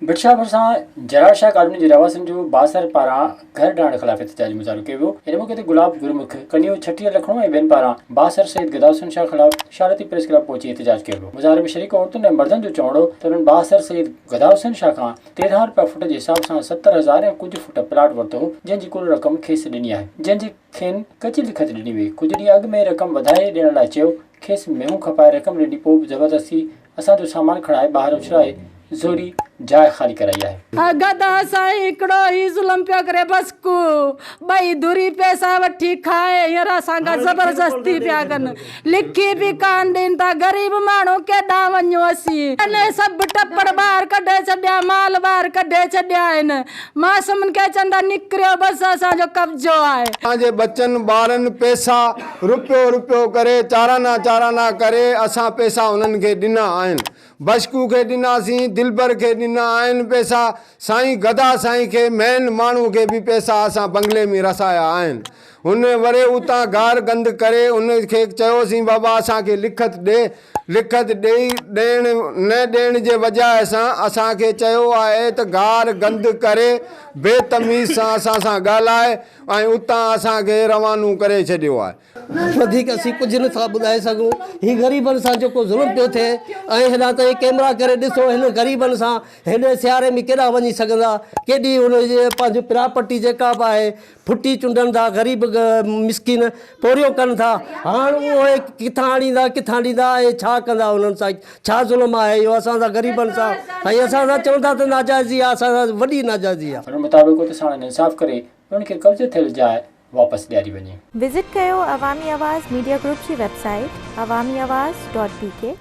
ڀٽشاهه ڀرسان جرار شاهه ڪالوني جي رهواسين جو بااثر پاران گهر ڊاهڻ خلاف احتجاجي مظاهرو ڪيو ويو ان موقعي تي گلاب گرمک ڪنيو ڇٽيهه لکڻو ۽ ٻين پاران بااثر سيد گداحسن شاهه خلاف شارتي پريس ڪلب پهچي احتجاج ڪيو ويو مظاهري ۾ شريڪ عورتن ۽ مردن جو چوڻ هو ته انهن بااثر سيد گداحسن شاهه کان تيرهن رپيا فٽ جي حساب سان ستر هزار ۽ ڪجهه فٽ پلاٽ ورتو هو جنهن جي ڪل رقم کيس ڏني آهي جنهن جي کين ڪچي لکت ڏني وئي. ڪجهه ڏينهن اڳ ۾ رقم وڌائي ڏيڻ لاء چيو. کيس مينهون کپائي رقم ڏني پوء به زبردستي اسان جو سامان کڻائي ٻاهر اڇلائي زوري جاء خالي ڪرائي آهي. گدا سائين هڪڙو هي ظلم پيو ڪري بس ڪو ٻئي ڌري پئسا وٺي کائي هينئر اسان کان زبردستي پيا ڪن. لکي به ڪانه ڏين ٿا. غريب ماڻهو ڪيڏانهن وڃون اسين. تنهن سڀ ٽپڙ ٻاهر ڪڍي ڇڏيا، مال ٻاهر ڪڍي ڇڏيا آهن. معصومن کي چون ٿا نڪريو بس اسان جو قبضو آهي. اسان جي ٻچن ٻارن پئسا رپيو رپيو ڪري چارانا چارانا ڪري اسان پئسا انهن کي ڏنا آهن. بشڪو کي ڏناسين، دلبر کي ڏنا آهن پئسا، سائين گدا سائين کي مئن ماڻهو کي به پئسا اسان بنگلي ۾ رسايا آهن. هن وري اتان گار گند ڪري ان کي چيوسين بابا اسان کي لکت ڏي. لکت ڏئي ڏيڻ نه ڏيڻ جي وجهه سان اسان کي چيو آهي ته گار گند ڪري بي تميز سان اسان سان ڳالهائي ۽ اتان اسان کي روانو ڪري ڇڏيو آهي. وڌيڪ اسين ڪجهه نه ٿا ٻڌائي سگهون. هي غريبن سان جيڪو ظلم پيو ٿئي ۽ هيڏانهن تائين ڪيمرا ڪري ڏسو هنن غريبن سان هيڏي سياري ۾ ڪيڏانهن وڃي سگهندا. ڪيڏي هن جي پنهنجي پراپرٽي جيڪا به آهي ڦٽي چنڊن ٿا، غريب مسڪين پورهيو ڪن ٿا، هاڻ اهي ڪٿان آڻيندا، ڪٿان ڏيندا ۽ ڇا ڪندا انهن سان، ڇا ظلم آهي اهو اسان سان غريبن سان ۽ اسان سان چون ٿا ته ناجائزي آهي اسان سان وڏي ناجائزي آهي. انهن مطابق اتي ساڻن انصاف ڪري انهن کي قبضي ٿيل جاء واپس ڏياري وڃي. وزٽ ڪيو عوامي آواز ميڊيا گروپ جي website Awami Awaz dot بي ڪي.